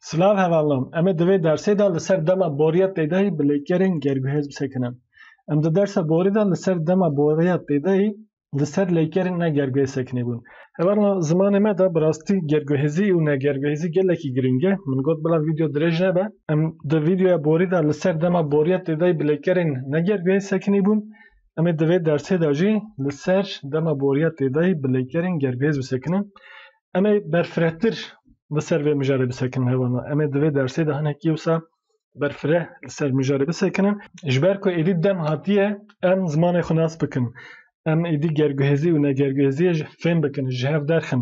Silav hevalnan, em ê di vê dersê de li ser dema boriya pêdayî bi lêkerên gerguhêz bisekinin. Em di dersa borî de li ser dema boriya pêdayî li ser lêkerên negerguhêz sekinîbûn. Hevalnan zimanê me de bi rastî gerguhêzî û negerguhêzî gelekî girîng e. Min got bila vîdeo dirêj nebe. Em di vîdeoya borî de li ser dema boriya pêdayî bi lêkerên negerguhêz sekinîbûn. Em ê di vê dersê de jî li ser dema boriya têdayî bi leykerên gerguhêz bisekinin. Em ê berfirehtir li ser vê mijarê bisekinin hewana. Em ê di vê dersê de hinekî wisa berfireh li ser mijarê bisekinin. Ji ber ku êdî dem hatiye em zimanê xwe nas bikin. Em êdî gerguhêzî û negerguhêziyê jî fêm bikin, ji hev derxin.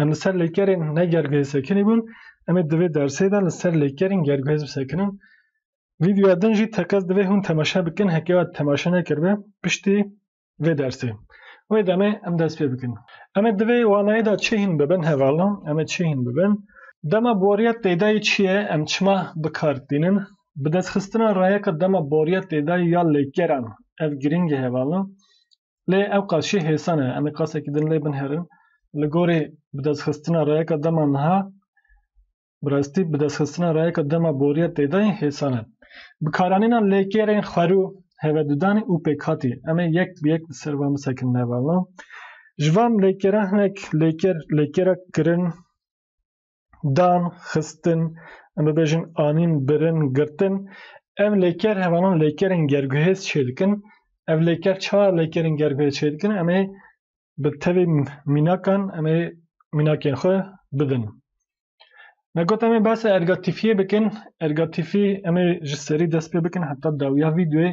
Em li ser lêkerên ne gerguhê sekinî bûn. Em ê di vê dersê de li ser lêkerên gerguhê bisekinin. Vîdeoya din jî tekez divê hûn temaşe bikin heke we temaşe nekiribe piştî vê dersê. Wê demê em dest pê bikin. Em ê di vê wanayê de çi hîn bibin hevala? Em ê çi hîn bibin? Dema boriya têdayî çi ye? Em çima bi kar tînin? Bidestxistina rayeka dema boriya têdayî ya lêkeran ev girîng e hevala. Lê ew qas jî hêsa ne, em ê qasekî din lê binherin. Li gorî bidestxistina rayeka dema niha, bi rastî bidestxistina rayeka dema boriya têdayî hêsa ne. Bi karanîna lêkêrên xwerû, hevedudanî û pêkhatî em ê yek bi yek li ser wan bisekin nêvalno. Ji van lêkêran hinek lêkêr lêkêra kirin, dan, xistin, em bibêjin anîn, birin, girtin. Ev lêker hevanan lêkerên gerguhêz çê dikin. Ev lêker çawa lêkerên gerguhêz çê dikin? Em ê bi tevî mînakan em ê mînakên xwe bidin. Me got em ê behsa ergatîfiyê bikin. Ergatîfî em ê ji serî dest pê bikin heta dawiya vîdeoyê.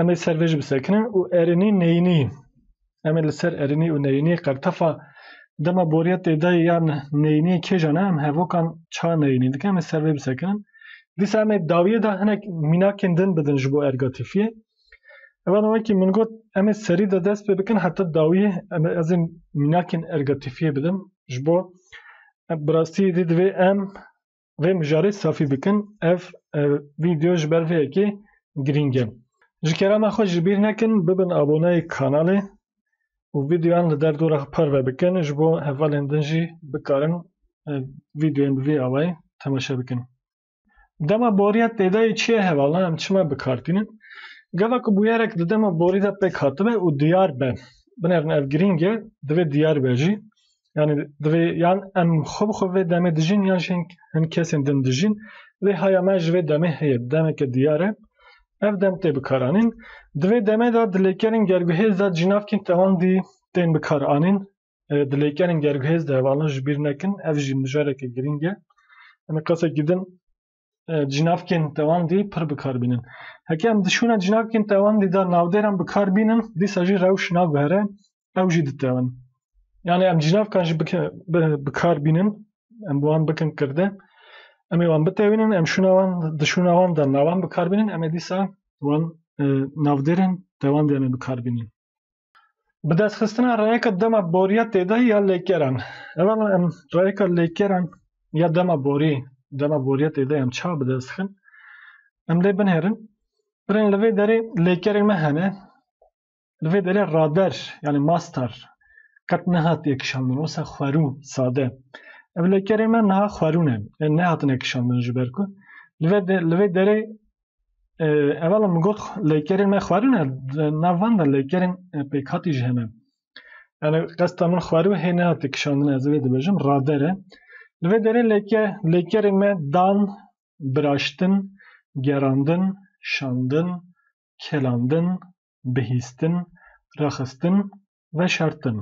Em ê ser vê jî bisekinin û erênî neyînî yîn. Em ê li ser erênî û neyînî qertefa dema boriya têdayî yan neyînî kêjan e em hevokan ça neyînî dikin em ê ser vê bisekinin. Dîsa em ê dawiyê de hinek mînakên din bidin ji bo ergatîfiyê. Evan o wekî min got em ê serî de dest pê bikin heta dawiyê em ê ez ê mînakên ergatîfiyê bidim ji bo bi rastî êdî divê em vê mijarê safî bikin ev vîdeo ji ber vê yekê girîng e. Ji kerema xwe ji bîr nekin bibin aboneyê kanalê û vîdeoyan li derdora xwe parve bikin ji bo hevalên din jî bikarin vîdeoyên bi vî awayî temaşe bikin. Dema boriya têdayê çi ye hevalna em çima bikar tînin? Gava ku bûyerek di dema borî de pêk hatibe û diyar be. Binerin ev girîng e, divê diyar be jî. Yani divê yan em xwe bi xwe vê demê dijîn yan jî hin kesên din dijîn. Lê haya me ji vê demê heye, demeke diyar e. Ev dem tê bikaranîn. Di vê demê de di lêkerên gerguhêz de cînavkên tewandî tên bikaranîn. Di lêkerên gerguhêz de hevala ji bîr nekin. Ev jî mijareke girîng e. Em ê qasekî din cinavkên tewandî pir bikar bînin. Heke em dişûne cinavkên tewandî de navdêran bikar bînin, dîsa jî rewş naguhere ew jî ditewin. Yani em cinavkan jî bikar bînin, em bi wan bikin kirde, em ê wan bitewînin, em şûna wan dişûna wan de navan bikar bînin, em ê dîsa wan navdêrên tewandî em ê bikar bînin. Bi destxistina reyeka dema boriya têde ya lêkeran. Evan em reyeka lêkeran ya dema borî, dema boriya têde em ça bi dest xin. Em lê binêrin. Birên li vê derê lêkerên me hene. Li vê derê rader yani mastar qet nehatiye kişandin wisa xwerû sade. Ev lêkerên me niha xwerû ne. Em nehatine kişandin ji ber ku li vê li vê derê Evala min got leykerên me xwarine nav van de leykerên pêkhatî ji hene. Yani qesta min xwarî û hê nehate kişandine ez vê dibêjim radere. Li vê derê leyke leykerên me dan, biraştin, gerandin, şandin, kelandin, bihîstin, rexistin, veşartin.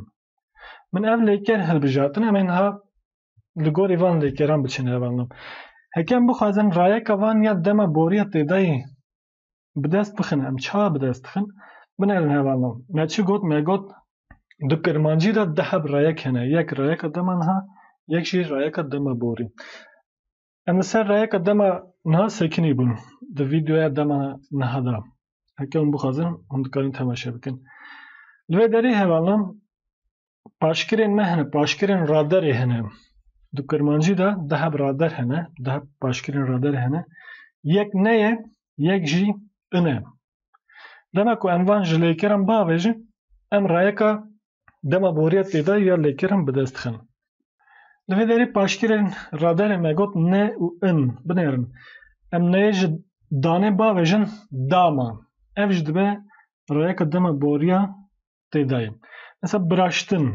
Min ev leyker hilbijartin em ê niha li gorî van lêkeran biçin hev anlam. Heke em bixwazin rayeka van ya dema boriya têdayî bi dest bixin em ça bi dest dixin binerin hev anlam. Me çi got me got di kirmancî de di heb rayek hene yek rayeka dema niha yek jî rayeka dema borî. Em li ser rayeka dema niha sekinî bûn di vîdeoya dema niha de. Heke hûn bixwazin hûn dikarin temaşe bikin. Li vê derê hev anlam Paşkirên me hene, paşkirên raderê hene. Di Kurmancî de di heb rader hene, di heb paşkirên raderê hene. Yek ne ye, yek jî in e. Dema ku em van ji lêkirin biavêjin, em rayeka dema boriyet tê de ya lêkirin bi dest dixin. Li vê derê paşkirên raderê me got ne û in, binêrin. Em neyê ji danê biavêjin dama. Ev jî dibe rayeka dema boriya tê dayê. Mesela biraştin.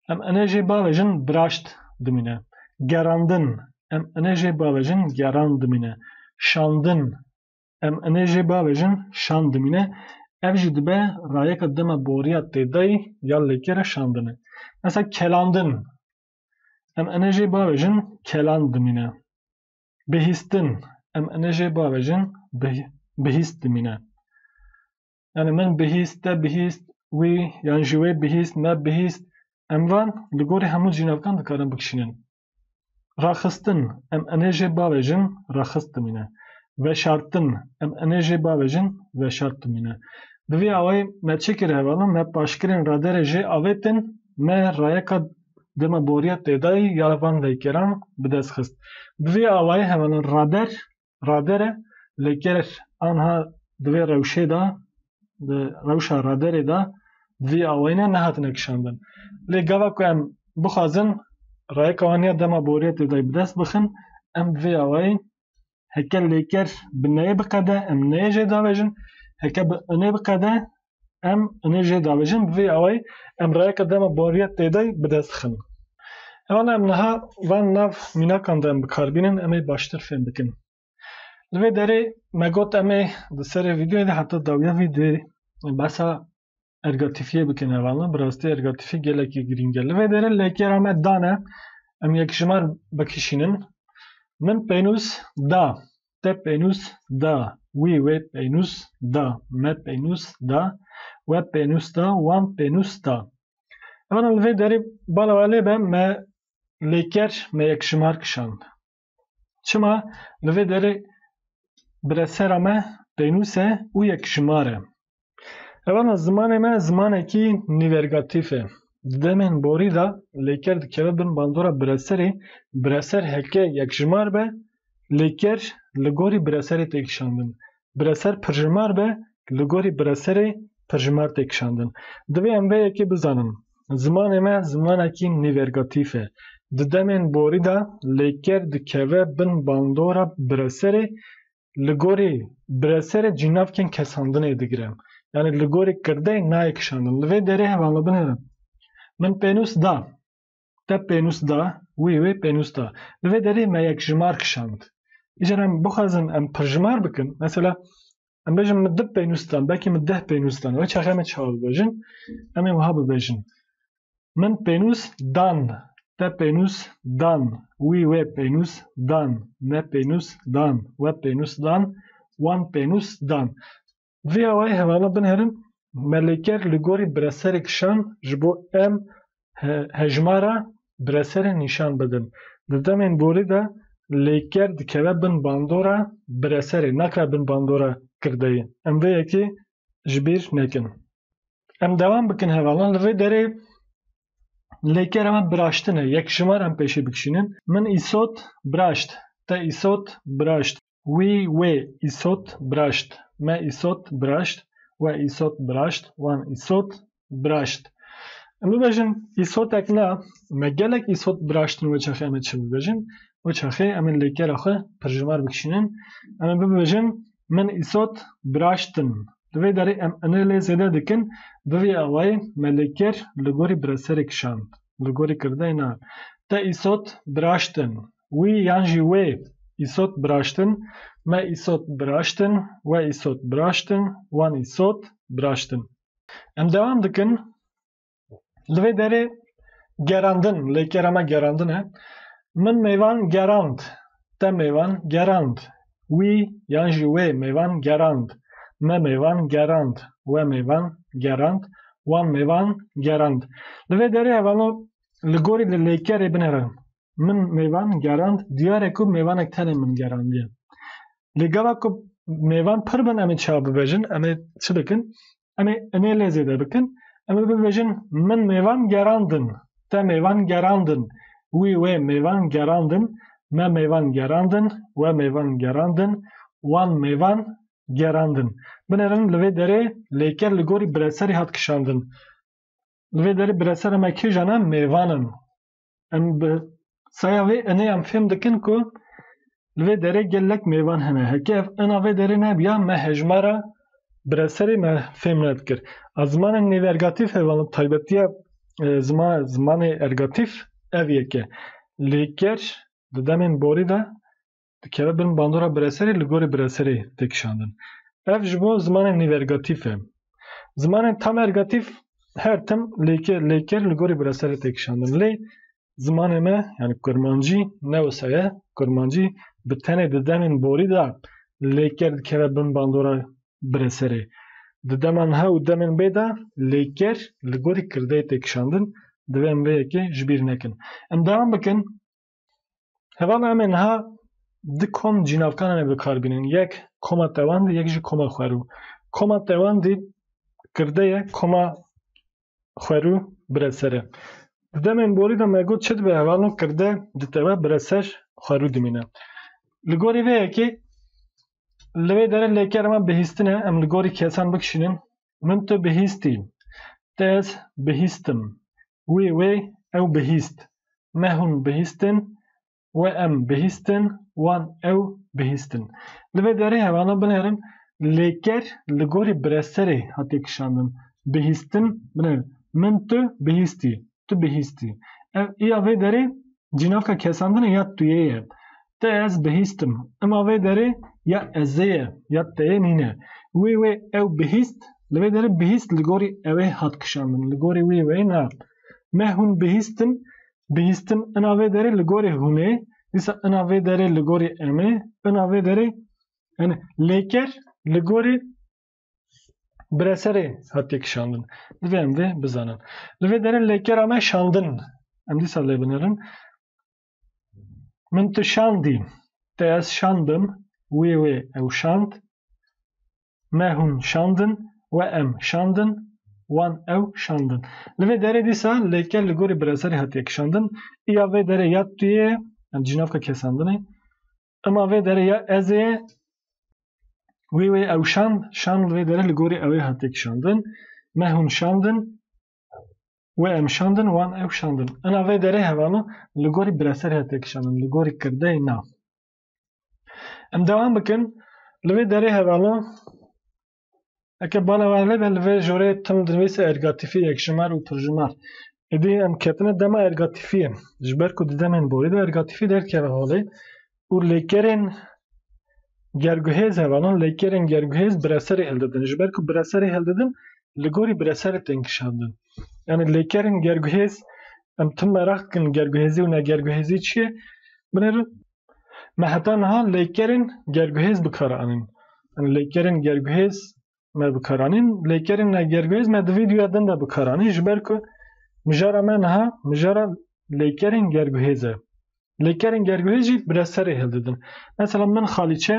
Em enejê bavejin biraşt dimîne. Gerandin. Em enejê bavejin geran dimîne. Şandin. Em enejê bavejin şan dimîne. Ev jî dibe rayeka dema boriya têdayî ya lêkere şandine. Mesela kelandin. Em enejê bavejin kelan dimîne. Bihîstin. Em enejê bavejin bihîst dimîne. yanî min bihîst, te bihîst, wî yan jî wê bihîst, me bihîst. Em van li gorî hemû cînavkan dikarin bikişînin. Raxistin, em enê jê bavêjin raxistimîne. Veşartin, em enê jê bavêjin veşartimîne. Bi vî awayî me çi kir hevalin, me paşkirên raderê jê avêtin, me rayeka dema boriya têdayî ya van leykeran bi dest xist. Bi vî awayî hevalin rader radere li ger anha di vê rewşê de di rewşa raderê de vî awayîne nehatine kişandin. Lê gava ku em bixwazin rayeka wan ya dema boriyetê de bi dest bixin em bi vê awayî heke lêker bi neyê biqede em neyê jê davêjin heke bi nê biqede Em inê jê davêjin bi vê awayî em rayeke dema bariya têdayî bi dest dixin. Heval em niha van nav mînakan de em bi kar bînin em ê baştir fêm bikin. Li vê derê me got em ê di serê vîdeoyê de heta dawiya vîdeoyê behsa ergatifiyê bikin heval ne bi rastî ergatifî gelekî girîng e. Li vê derê lêkera me dane em yekjimar bikişînin. Min pênûs da te pênûs da, wî wê pênûs da, me pênûs da, we pênûs da, wan pênûs da. Emana li vê derê bala we lê be me lê ker me yekşimar kişand. Çima li vê derê biresera me pênûs e û yekşimar e. Evana zimanê me zimanekî nîvergatîf e. Di demên borî de lêker dikeve bin bandora bireserê, bireser heke yekjimar be, lêker li gorî bireserê tê kişandin. Bireser pirjimar be, li gorî bireserê pirjimar tê kişandin. Divê em vê yekê bizanin. Zimanê me zimanekî nîvergatîf e. Di demên borî de lêker dikeve bin bandora bireserê, li gorî bireserê cînavkên kesandinê digire. Yanî li gorî kirdeyê nayê kişandin. Li vê derê hevalabin hene. Min pênûs da. Te pênûs da, wî wê pênûs da. Li vê derê me yekjimar kişand. Îcar em bixwazin em pirjimar bikin, mesela em bêjin min du pênûs dan, belkî min deh pênûs dan. Wê çaxê me çawa bibêjin? Em ê wiha bibêjin. Min pênûs dan. Te pênûs dan. Wî wê pênûs dan. Me pênûs dan. We pênûs dan. Wan pênûs dan. Vê awayî hevalo binêrin, Melêker li gorî bireserê kişand ji bo em hejmara bireserên nîşan bidin. Di demên borî de lêker dikeve bin bandora bireserê, nakeve bin bandora kirdeyê. Em vê yekê ji bîr nekin. Em devam bikin hevalan li vê derê lêkera me biraştine yek ji wan em pêşê bikişînin. Min îsot biraşt. Te îsot biraşt. Wî wê îsot biraşt. Me îsot biraşt. We îsot biraşt. Wan îsot biraşt. Em bibêjin îsotek na me gelek îsot biraştin wê çaxê em ê çi bibêjin? Wê çaxê em ê lêkera xwe pirjimar bikişînin. Em ê bibêjin Min Îsot biraştin. Di vê derê em inê lê zêde dikin, bi vî awayê me lê kir li gorî bi reserê kişand. Li gorî kirdeyê na, te Îsot biraştin, wî yan jî wê, Îsot biraştin, me Îsot biraştin, we Îsot biraştin, wan Îsot biraştin. Em dewam dikin. Li vê derê gerandin, lêkera me gerandin e. Min mêvan gerand. Te mêvan gerand. Wî yan jî wê mêvan gerand. Me mêvan gerand. We mêvan gerand. Wan mêvan gerand. Li vê derê hevano li gorî li lêkerê binêrin. min mêvan gerand diyare ku mêvanek tenê min gerandiye. Lê gava ku mêvan pir bin em ê çawa bibêjin, em ê çi bikin? Em ê inê lê zêde bikin, em ê bibêjin min mêvan gerandin, te mêvan gerandin, wî wê mêvan gerandin, me mêvan gerandin, we mêvan gerandin, wan mêvan gerandin. Binêrin li vê derê lêker li gorî bireserî hat kişandin. Li vê derê biresera me kîjan e? Mêvan in. Em bi saya vê inê em fêm dikin ku li vê derê gelek mêvan hene. Heke ev ina vê derê nebiya me hejmara bireserê me fêm nedikir. A zimanên nêvergatîf ev an taybetiya zima zimanê ergatîf ev yek e. Lê ger di demên borî de dikeve bin bandora bireserê li gorî bireserê tê kişandin. Ev ji bo zimanên nîvergatîf e. Zimanên tamergatîf her tim lêkê lêkir li gorî bireserê tê kişandin. Lê zimanê me yani kurmancî ne wisa ye. Kurmancî bi tenê di demên borî de lêker dikeve bin bandora bireserê. Di dema niha û demên bê de lêker li gorî kirdeyê tê kişandin. Divê em vê yekê ji bîr nekin. Em dewam bikin Hevala em ê niha di kom cînavkanan em bikarbînin. Yek koma tewandî yek jî koma xwerû. Koma tewandî kirde ye koma xwerû bireser e. Di demên borî de me got çi dibe hevalo kirde ditewe bireser xwerû dimîne. Li gorî vê yekê li vê dere lêkerema bihîstin e em li gorî kesan bikişînin Min tu bihîstî. Te ez bihîstim. Wê wê ew bihîst. Me hûn bihîstin. We em bihîstin. Wan ew bihîstin. Li vê derê hevana binêrin lêker li gorî bireserê hatiye kişandin. Bihîstin binêrin. Min tu bihîstî. tu bihîstî. Ev ya vê derê cînaka kesandine ya tuyê ye. Te ez bihîstim. Ima vê derê ya ezê ye, ya teyê nîne. Wê wê ew bihîst, li vê derê bihîst li gorî ewê hat kişandin, li gorî wî wê na. Me hûn bihîstin, bihîstin ina vê derê li gorî hûnê, dîsa ina vê derê li gorî emê, ina vê derê yani lêker li gorî Bire serê hatiye kişandin. Divê em vê bizanin. Li vê derin lêkera me şandin. Em dîsa lê binerin. Min tu şandî. Te ez şandim. Wê wê ew şand. Me hûn şandin. We em şandin. Wan ew şandin. Li vê derê dîsa lêker li gorî bireserê hatiye kişandin. Îya vê derê ya tu yê. Em dijî navka kesandinê. Ema vê derê ya ez ê wê wê ew şand, şand vê derê li gorî ew ê hate kişandin, me hûn şandin, wê em şandin, wan ew şandin. Ena vê derê hevano li gorî bireser hate kişandin, li gorî kirdeyê na. Em dewam bikin, li vê derê hevano Eke bana wan lê ben li vê jorê tim dinivîse ergatifî yekjimer û pirjimer. Êdî em ketine dema ergatifiyê. Ji ber ku di demên borî de ergatifî derkeve holê û lêkerên gerguhêz heva nan lêkerên gerguhêz bireserê hildidin. Ji ber ku bireserê hildidin li gorî bireserê tên kişandin. Yanî lêkerên gerguhêz em tim meraq dikin gerguhêzî û negerguhêzî çi ye? Binêrin Me heta niha lêkerên gerguhêz bikaranîn. Lêkerên gerguhêz me bikaranîn, lêkerên gerguhêz me di vîdyoya din de bikaranî ji ber ku mijara me niha mijara lêkerên gerguhêz e. Lêkerên gerguhêz jî bi reserê hildidin. Mesela min xalîçe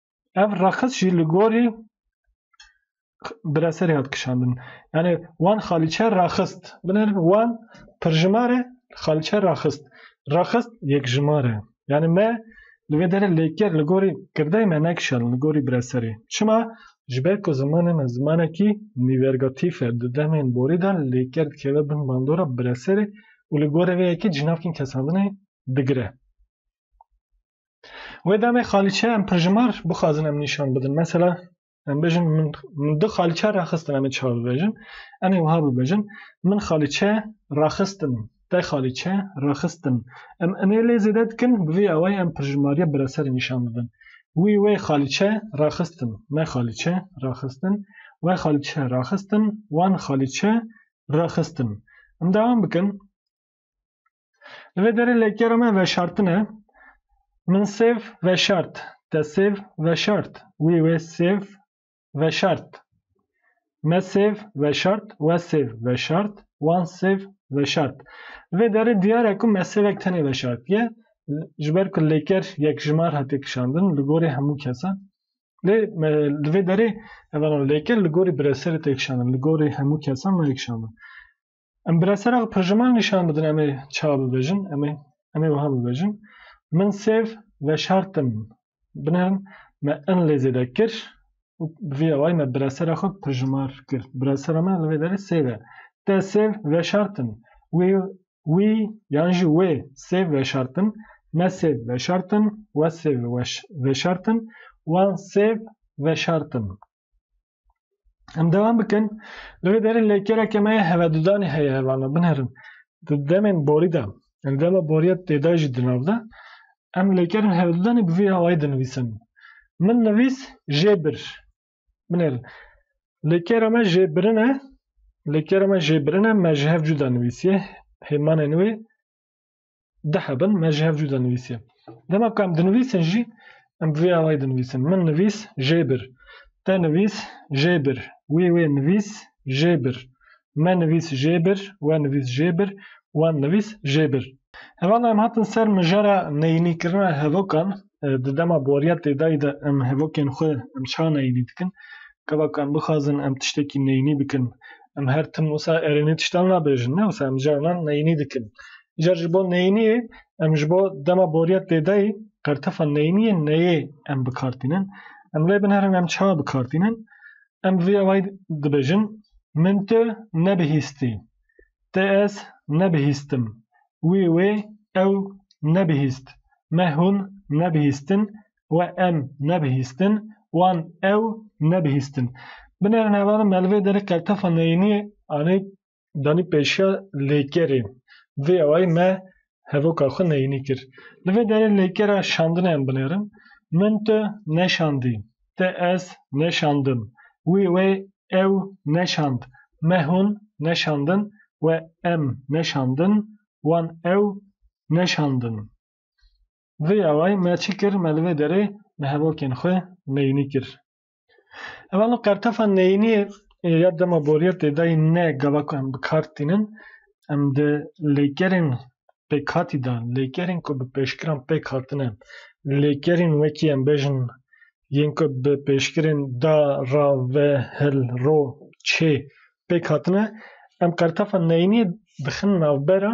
Ev reqis jî li gorî Bireserê hat kişandin. Yani wan xalîçe raxist. Binir wan pirjimare xalîçe raxist. Raxist yekjimare. Yani me li vê derê lêker li gorî kirdeyê me nekişand li gorî bireserê. Çima? Ji ber ku zimanê me zimanekî nîvergatîf e. Di demên borî de lêker dikeve bin bandora bireserê û li gorî vê yekê cînavkên kesandinê digire. Wê demê xalîçe em pirjimar bixwazin em nîşan bidin. Mesela em bêjin min min du xalîçe raxistin em ê çawa bibêjin? Em ê wiha bibêjin min xalîçe raxistin, te xalîçe raxistin. Em inê lê zêde dikin bi vî awayî em pirjimariya bireserê nîşan bidin. Wî wê xalîçe raxistin, me xalîçe raxistin, we xalîçe raxistin, wan xalîçe raxistin. Em dewam bikin. Li vê derê lêkera me veşartin e. Min sêv veşart. Te sêv veşart. Wî wê sêv veşart. Me sêv veşart. We sêv veşart. Wan sêv veşart. Li vê derê diyar e ku me sêvek tenê veşartiye. Ji ber ku lêker yek jimar hatiye kişandin li gorî hemû kesan. Lê me li vê derê ev lêker li gorî bireserê tê kişandin. Li gorî hemû kesan nayê kişandin. Em bi resera perjiman nîşan bidin em ê çawa bibêjin, em ê em ê wiha bibêjin, Min sêv veşartim. Binerin me in lê zêde kir û bi vî awayî me bi resera xwe perjimar kir. Bi resera me li vê derê sêv e. Te sêv veşartin. Wî, wî yan jî wê sêv veşartin. Me sêv veşartin. We sêv veş veşartin. Wan sêv veşartin. Em devam bikin. Li vê derê lêkereke me heve dudanê heye hevana binherin. Di demên borî de, yani dema boriya têda jî di nav de, em lêkerin heve dudanê bi vî hawayî dinivîsin. Min nivîs jê bir. Binêrin. Lêkera me jê birin e. Lêkera me jê birin e, me ji hev cuda nivîsiye. Hêmanên wê dihebin me ji hev cû dinivîsî. Dema ku em dinivîsin jî em bi vê awayî dinivîsin. Min nivîs jê bir. Te nivîs jê bir. Wî wê nivîs jê bir. Me nivîs jê bir. We nivîs jê bir. Wan nivîs jê bir. Hevala em hatin ser mijara neyînîkirina hevokan di dema boriya têdayî de em hevokên xwe em çiha neyînî dikin. Gava ku em bixwazin em tiştekî neyînî bikin, em her tim wisa erênê tiştan nabêjin ne wisa em carinan neyînî dikin. Îcar ji bo neyîniyê em ji bo dema boriya têdayî qertefa neyîniyê neyê em bikartînin. Em lê bin herin em çiha bikartînin. Em vê awayî dibêjin min tu nebihîstî. Te ez nebihîstim. Wî wê ew nebihîst. Me hûn nebihîstin. We em nebihîstin. Wan ew nebihîstin. Binêrin hevalên melvê derê qeltefa neyîniyê anî danî pêşiya lêkerê. Vê awayî me hevoka xwe neyînî kir. Li vê derê lêkera şandinê em binêrin, Min tu neşandî, te ez neşandim, wî wê ew neşand, me hûn neşandin, we em neşandin, wan ew neşandin. Vê awayî me çi kir? Me li vê derê bi hevokên xwe neyînî kir. Ev anû qertefa neyînî ya dema boriya têdayî ne gava ku em bi kar tînin, em di lêkerên pêkhatî de, lêkerên ku bi pêşkiran pêk hatine, lêkerên wekî em bêjin yên ku bi pêşkirên da, ra, ve, hil, ro, çê pêk hatine, em qertefa neyînî dixin navbera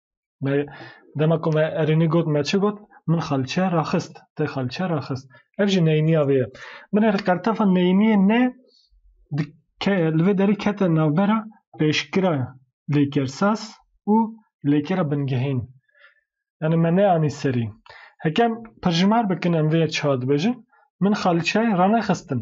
Me dema ku me erênî got me çi got? Min xalçe raxist, te xalçe raxist. Ev jî neyîniya vê ye. Min erê qertefa neyîniyê ne di ke li vê derê kete navbera pêşkira lêkersaz û lêkera bingehîn. Yani me neanî serî. Heke em pirjimar bikin em vê yek çiha dibêjin, min xalçe ranexistin.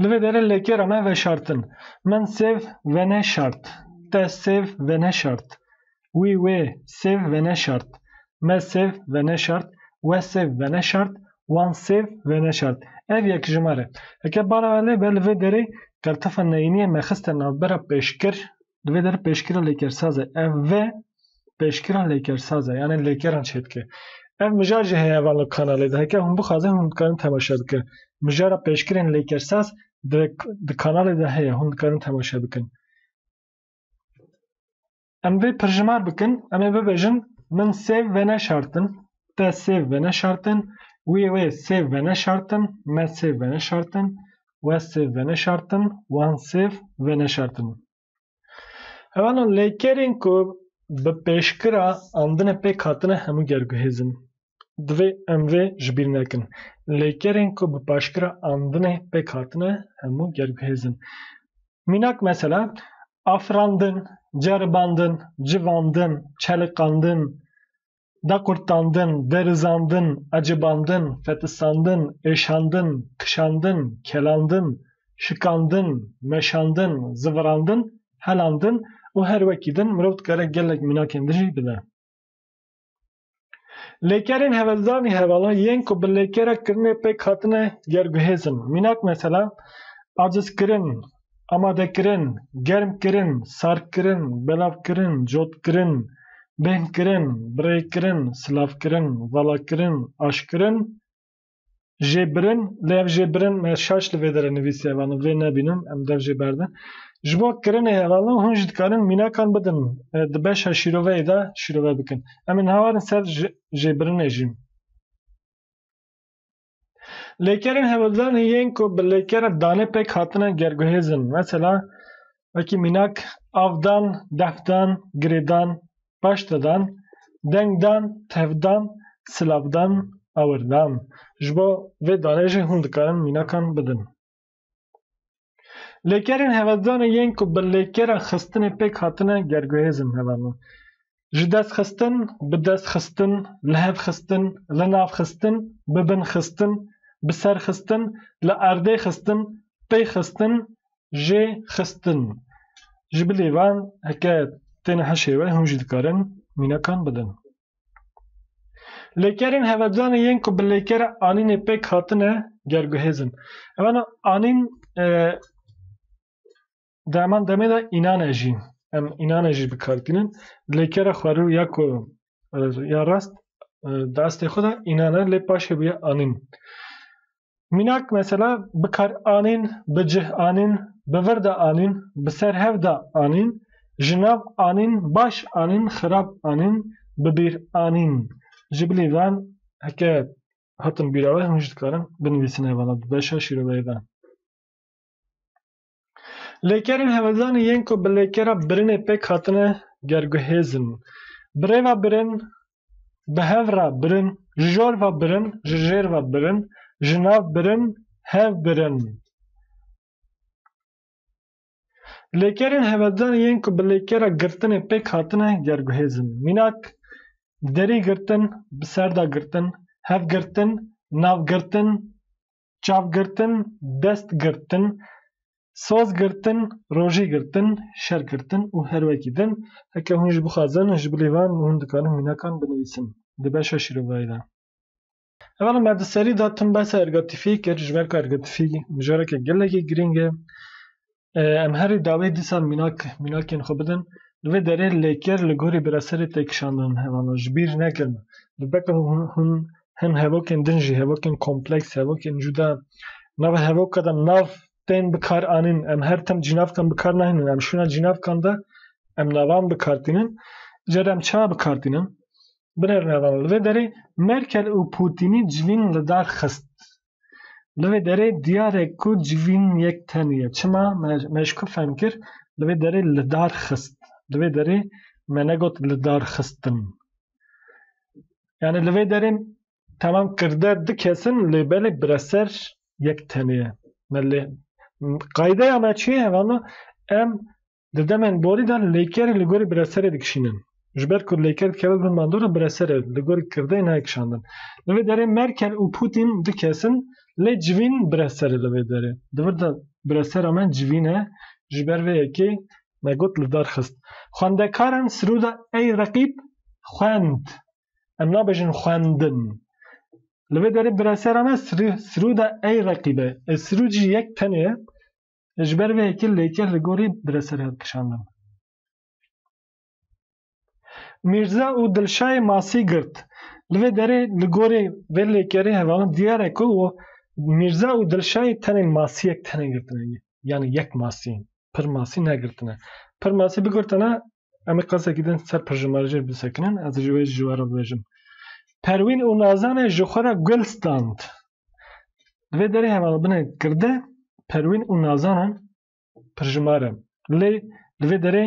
Li vê derê lekê re me veşartin. Min sêv veneşart. Te sêv veneşart. Wî wê sêv veneşart. Me sêv veneşart. We sêv veneşart. Wan sêv veneşart. Ev yekjimar e. Heke bara me lê be li vê derê kertefa neyîniyê me xiste navbera pêşkir Di vê der pêşkira lêkersazê ev ve pêşkira lêkersaze yanê lêkeran çê dike. Ev mijar jî heye van li kanalê de heke hûn bixwazin hûn dikarin temaşe bikin. Mijara pêşkirên lêkersaz di di kanalê de heye hûn dikarin temaşe bikin. Em vê pirjimar bikin em ê bibêjin min sêv ve neşartin Te sêv veneşartin, wî wê sêv veneşartin, me sêv veneşartin, we sêv veneşartin, wan sêv veneşartin. Hevana lêkerên ku bi pêşkira andine pêk hatine hemû ger guhêzin. Divê em vê ji bîr nekin. Lêkerên ku bi paşkira andine pêk hatine hemû ger guhêzin. Mînak mesela afirandin, ceribandin, civandin, çeliqandin, da qurtandin, derizandin, ecibandin, fetistandin, êşandin, kişandin, kelandin, şikandin, meşandin, zivirandin, helandin û her wekî din mirov dikare gelek mînakên din jî bide. Lêkerên hevezdanî hevalan yên ku bi lêkere kirinê pêk hatine ger guhêzin. Mînak mesela, acizkirin, Amadekirin, germkirin, sardkirin, belavkirin, cotkirin, bêhnkirin, birêkirin, silavkirin, valakirin, aşkirin, jêbirin, lê ev jêbirin me şaş li vê dere nivîsiye ev anû vê nebînin em dev jê berdin. Ji bo kirinê hevalin hûn jî dikarin mînakan bidin di beşa şîroveyê de şîrove bikin. Em ê nehewarin ser jêbirinê jî. Lêkerên hevildanê yên ku bi lêkere danê pêk hatine gerguhêz in. Mesela wekî mînak avdan, defdan, girêdan, paştedan, dengdan, tevdan, silavdan, awirdan. Ji bo vê danê jî hûn dikarin mînakan bidin. Lêkerên hevedanê yên ku bi lêkera xistinê pêk hatine gerguhêzin heve ne. Ji dest xistin, bi dest xistin, li hev xistin, li nav xistin, bi bin xistin, bi ser xistin, li erdê xistin, pê xistin, jê xistin. Ji bilî van heke tên hişê we hûn jî dikarin mînekan bidin. Lêkerên hevecanê yên ku bi lêkere anînê pêk hatine gerguhêz in. Evana anîn e, di heman demê de înane jî em înane jî bikartînin. Lêkere xwerû ya ku e, ya rast e, di estê xwe de înan e lê paşê bûye anîn. Mînak mesela bi kar anîn, bi cih anîn, bi vir de anîn, bi ser hev de anîn, ji nav anîn, baş anîn, xirab anîn, bi bîr anîn. Ji bilî ve heke hatin bîra we hûn jî dikarin binivîsin hevana du beşa şîroveyê de. Lêkerên hevezanê yên ku bi lêkera birinê pêk hatine gerguhêz in. Bi rê ve birin, bi hev re birin, ji jor ve birin, ji jêr ve birin, ji nav birin, hev birin. Lêkerên hevezanê yên ku bi lêkera girtinê pêk hatine gerguhêz in. Mînak, derî girtin, bi ser de girtin, hev girtin, nav girtin, çav girtin, dest girtin, soz girtin, rojî girtin, şer girtin û her wekî din. Heke hûn jî bixwazin ji bilî van hûn dikarin mînakan binivîsin di beşa şîrovayî de. Hevalên me di serî de tim behsa ergatifiyê kir ji ber ku ergatifî mijareke gelekî girîng e. Em herî dawî dîsa mînak mînakên xwe bidin. Li vê derê lêker li gorî biraserê têkişandin hevano ji bîr nekirin. Li ber hûn hin hevokên din jî hevokên kompleks, hevokên cuda. Nava hevoka de nav tên bi kar anîn. Em her tim cînavkan bi kar nahênin. Em şûna cînavkan de em navan bi kar tînin. Ca de em ça bi kar tînin? Binêrin hevano. Li vê derê Merkel û Pûtînî civîn li dax xist. Li vê derê diyar e ku civîn yek tenê ye. Çima? Me ji ku fehm kir li vê derê li dar xist. Li vê derê me negot li dar xistin. Yani li vê derê temam kirde du kesin lê belê bireser yek tenê ye. Me lê qaydeya me çi ye? Hevama em Di demên borî de lêkerî li gorî bireserê dikişînin. Ji ber ku lêker dikeve bin bandora bireserê li gorî kirdeyê nayê kişandin. Li vê derê Merkel û Pûtîn du kes in lê civîn bireser e li vê derê. Di vir de biresera me civîn e ji ber vê yekê me got li dar xist. Xwendekaran Siruda ey reqîb xwend. Em nabêjin xwendin. Li vê derê biresera me Siruda ey reqîb e. Sirûd jî yek tenê ye. Ji ber vê yekê lêkeh li gorî bi re ser hev kişandin. Mîrza û Dilşayê masî girt. Li vê derê li gorî vê lêkerê hevalin diyar e ku Mîrza û Dilşayê tenê masiyek tene girtine. Yanî yek masî. Pir masî negirtine. Pir masî bigirtine em ê qasekî din ser pirjimarjê bisekinin. Ez ji wê ji we re bibêjim. Perwîn û Nazanê ji xwe re gul stand. Divê derê hevalbine kirde perwîn û nazanan pirjimar in. Lê li vê derê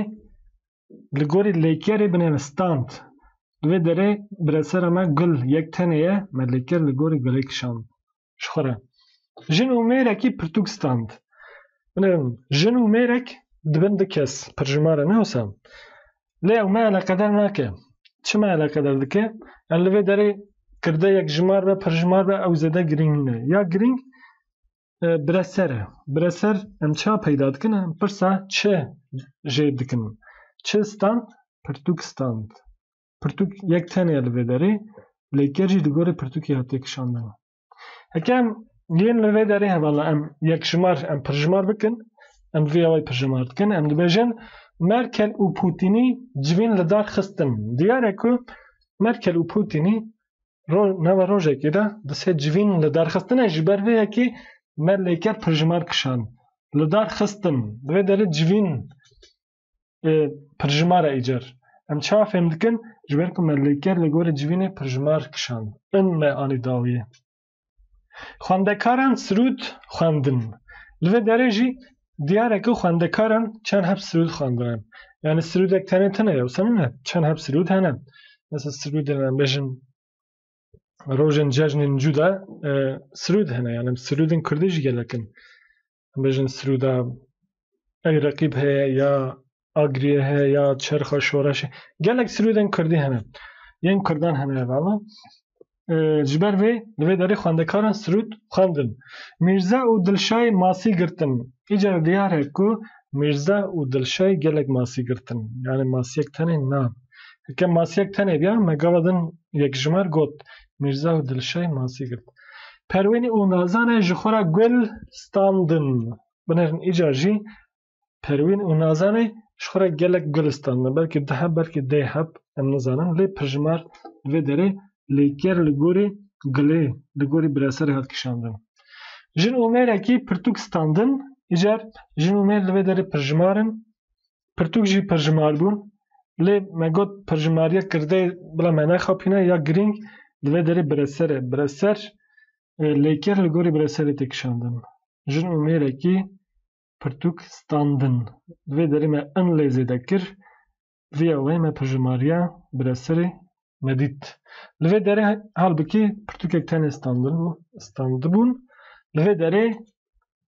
li gorî lêkerê binême stand. Li vê derê biresera me Gul yek tenê ye me lêker li gorî gulê kişand ji xwe re. Jin û mêrekî pirtûk stand. Binêrin jin û mêrek dibin du kes pirjimar e ne wisa? Lê ew me eleqedar nake. Çima eleqedar dike? Yani li vê derê kirde yekjimar be, pirjimar be ew zêde girîng nîne. Ya girîng e, bireser e. Bireser em çima peyda dikin? Em pirsa çi jêr dikin? Çi stand? Pirtûk stand. Pirtûk yek tenê ye li vê derê, lê ker jî li gorî pirtûkê hatiye kişandin. Hekem yên li vê derê hevala em yekşimar em pirjimar bikin, em vê awayî pirjimar dikin, em dibêjin Merkel û Pûtînî civîn li dar xistin. Diyar e ku Merkel û Pûtînî nava rojekê de di sê civîn li dar xistine ji ber vê yekê me lêker pirjimar kişand. Li dar xistin. Di vê derê civîn Pirjimara îcar. Em çawa fêm dikin? Ji ber ku me li ker li gorî civînê pirjimar kişand in me anî dawiyê. Xwendekaran sirûd xwendin. Li vê derê jî diyar e ku xwendekaran çend heb sirûd xwendine. Yanî sirûdek tenê tune ye wisa nîne. Çend heb sirûd hene. Mesela sirûdên em bêjin rojên cejnên cû de sirûd hene. Yanî sirûdên kurdî jî gelek in. bêjin Sirûda ew reqîb heye ya Agiriyê heye ya Çerxa Şoreşê gelek Sirûdên Kurdî hene yên Kurdan hene evala ji ber vê li vê derê xwendekaran Sirûd xwendin Mîrza û Dilşay masî girtin îca diyar e ku Mîrza û Dilşay gelek masî girtin yani masiyek tenê na Heke masiyek tenê biya me gava din yekjimer got Mirza û Dilşay masî girt. Perwîn û Nazane ji xwe re gul standin. Binêrin îcar jî Perwîn û Nazane ji xwe re gelek gul standin. Belkî du heb, belkî deh heb em nizanin. Lê pirjimar li vê derê lêker li gorî gulê, li gorî bireserê hat kişandin. Jin û mêrekî pirtûk standin. Îcar jin û mêr li vê derê pirjimar in. Pirtûk jî pirjimar bû. Lê me got pirjimariya kirdeyê bila me nexapîne ya girîng di vê derê bireser e. Bireser lêker li gorî bireserê tê kişandin. Jin û mêrekî pirtûk standin. Di vê derê me in lê zêde kir. Vîya wê me pirjimariya bireserê nedît. Li vê derê halbikî pirtûkek tenê standin bû, standibûn. Li vê derê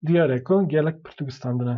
diyar e ku gelek pirtûk standine.